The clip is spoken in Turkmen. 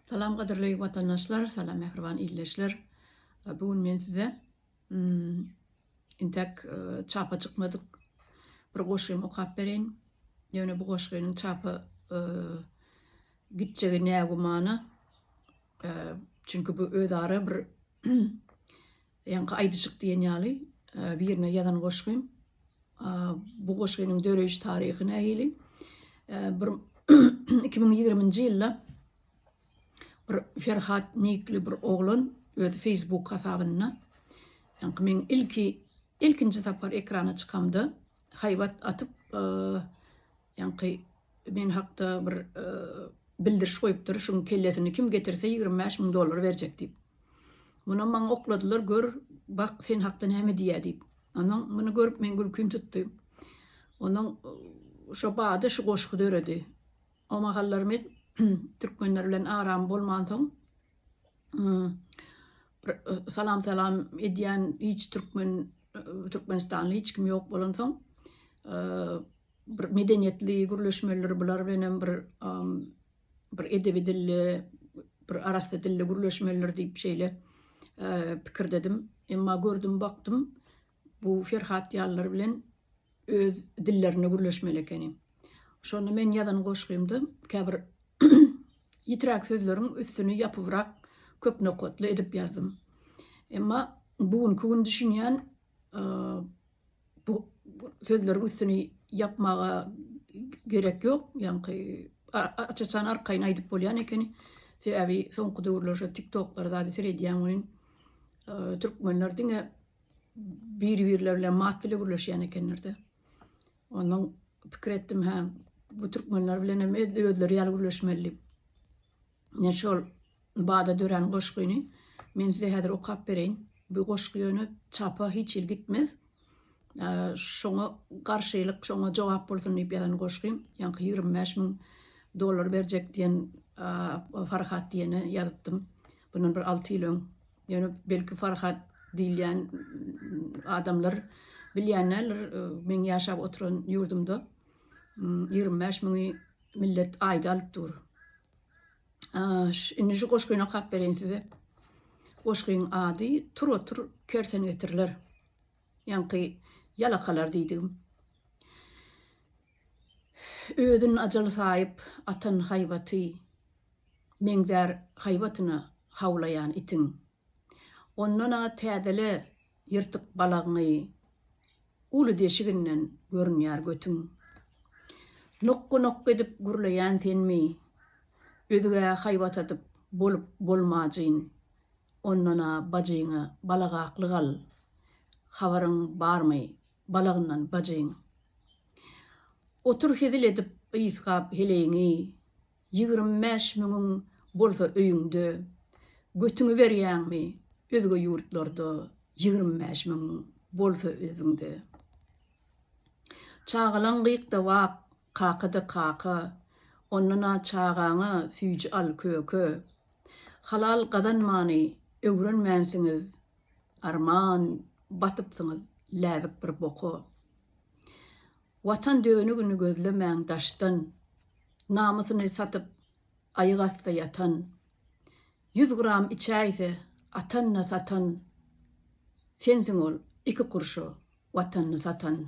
Salam gadyrly watandaşlar, salam mähriban ildeşler. Bu gün men size intäk çapa çykmadyk bir goşgymy okap bereýin. Ýöne bu goşgynyň çapa gitjegi nägümana. Çünki bu özara bir Ýaňky aýdyjyk diýen ýaly birine ýazan goşgym. Bu goşgynyň döreýiş taryhy nähili? Bir iki müň ýigriminji ýylda bir Ferhat nikli bir oglan öz Facebook hasabynda ýaňky men ilki ilkinji sapar ekrana çykamda haýbat atyp Ýaňky men hakda bir bildiriş goýupdyr, şuň kellesini kim getirse ýigrimi bäş müň dollar berjek diýip. Munam maňa okladylar, gör, bak, sen hakda näme diýýär diýip. Ondan muny görüp men gülkim tutdy. Ondan şo bada şu goşgy döredi. O mahallar men türkmenler bilen aram bolmansoň, salam-salam edýän hiç türkmen, türkmenistanly hiç kim ýok bolansoň, bir medeniýetli gürleşmelidir, bular bilen hem bir bir edebi dilli, bir arassa dilli gürleşmelidir diýip şeýle pikirdedim. Emma gördüm, bakdym, bu Ferhat ýalylar bilen öz dillerinde gürleşmeli ekeni. Şonda men ýazan goşgymda käbir ýitiräk sözleriň üstüni ýapybrak köp nokatly edip ýazdym. Emma bu günki gün düşünýän Bu sözleriň üstüni ýapmaga gerek ýok. Ýaňky aç-açan arkaýyn aýdyp bolýan ekeni. Sebäbi soňky döwürler şu TikToklary zady seredýän welin, türkmenler diňe bir-birleri bilen mat bile gürleşýän ekenler-de. Ondan pikir etdim, hä, bu türkmenler bilen hem edil özleri ýaly gürleşmelidi. Ine şol bada dörän goşgyny men size häzir okap bereýin. Bu goşgy ýöne çapa hiç hili gitmez. Şoňa garşylyk, şoňa jogap bolsun diýip ýazan goşgym. Ýaňky ýigrimi bäş müň dollar berjek diýen Farhat diýene ýazypdym. Bundan bir alty ýyl öň. Ýöne belki Farhat diýilýän adamlar bilýän däldir, meň ýaşap oturan ýurdumda ýigrimi bäş müňi Millet aýda alyp dur. Indi şu goşgyny okap bereýin size. Goşgyň ady Tur otur kersen getiriler. Ýaňky ýalakalar diýdigim. Özün ajal saýyp atan haýbaty, meňzär haýbatyna hawlaýan itiň. Ondan-a täzele ýyrtyk balagyňy uly deşiginden görünýär götüň. Nokga-nokga edip gürleýän senmi? Özgä haýbat atyp bolup bolmajyn. Ondan-a bajyňa balagaklyk al. Habaryň barmy balagyndan bajyň? Otur hezil edip ysgap heleýiňi. Ýigrimi bäş müňüň bolsa öýüňde, götüňi berýäňmi özge ýurtlarda ýigrimi bäş müň bolsa özüňde. Çagalaň gyýkda wak kakada kaka, ondan-a çagaňa süýji al köke. Halal gazanmany öwrenmänsiňiz, arman batypsyňyz läbik bir boka. Watan dönügini gözlemäň daşdan, Namysyny satyp, aýyg asda ýatan. Ýüz gram içäýse, atanyny satan, Sensiň ol iki kurşa Watanyny satan.